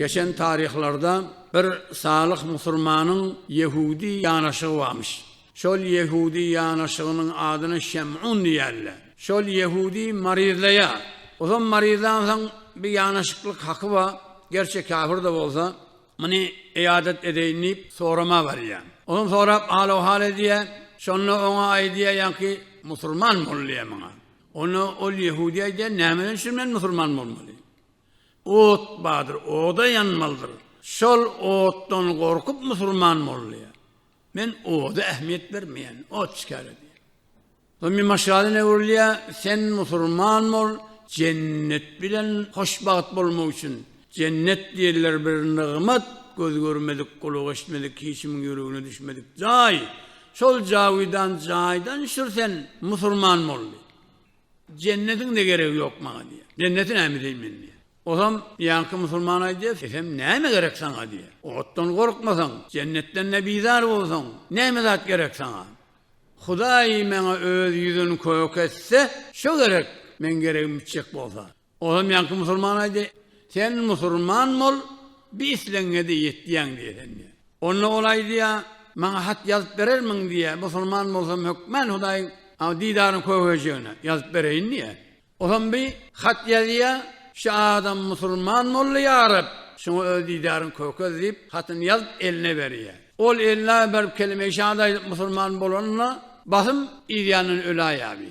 Geçen taryhlarda bir salyh musurmanyň ýehudi ýanaşygy barmyş. Şol ýehudi ýanaşygynyň adyna Şemun diýýärler. Şol ýehudi maryzlaýar. Ozam maryzlansoň bir ýanaşyklyk haky bar, gerçi käbir-de bolsa, muny ýadat edeýin diýip, sorama barýar. Ozam sorap hal-ohal edýär. Şonda oňa aýdýar ýaňky musurman bolýar muňa. Onda ol ýehudi aýdýar, Nämeden üçin men musurman bolmaly? Ot bardyr, oda ýanmalydyr. Şol otdan gorkup musurman molla, Men oda ähmiýet bermeýän, ot çikäle diýýär. Soň bir maşgala öwrülýär, Sen musurman bol, jennet bilen hoşbagt bolmak üçin. Jennet diýenler bir nygmat, göz görmedik, gulak eşitmedik, hiç kimiň ýüregine düşmedik jaý. Şol jawydan jaýdan şür sen, musurman bol diýip. Jennetiň de geregi ýok maňa diýýär. Jenneti näme edeýin men diýýär. Ozam ýaňky musulman aýdýar, sesem näme gerek saňa diýýär. Otdan gorkmasaň, jennetden de bizar bolsaň, näme zat gerek saňa. Hudaý maňa öz ýüzün kök etse, şo gerek, meň geregim bitjek bolsa. Ol hem ýaňky musulman aýdy, Sen musulman bol, bi islegiňe-de ýetýäň diýýän diýýär. Onda ol aýdýar, Maňa hat ýazyp berermiň diýýär, musulman bolsam hökmän Hudaýyň didaryny köwejegine ýazyp bereýin diýýär. Olam bi hat ýazýar, Şu adam musulman boldy, ýa Reb, şoňa öz didaryňy kökez diýip, hatyny ýazyp eline berýär. Ol eline berip kelime-i şahat aýdyp musulman bolanda, basym yzýandan öläýýär bi.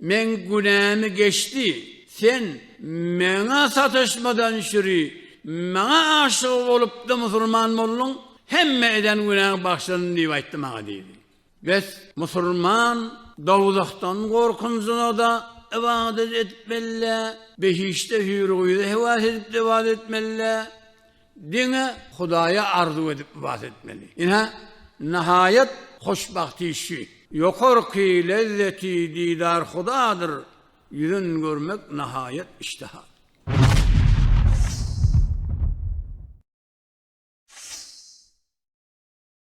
Meň günämi geçdi, sen Maňa sataşmadan çüri Maňa aşyk bolupda musulman bolduň, hemme eden günäň bagşlandy diýip aýtdy maňa diýdi. Bes, musulman dowzahdan gorkunjyna-da ybadat edip bellä, behişde hüýr-gyza hewas edip-de ybadat etmellä. Diňe Hudaýa arzuw edip ybadat etmeli. Ine, nahaýat hoşbagt iş şu. Ýokarky lezzeti didar Hudadyr, ýüzün görmek nahaýat iştaha.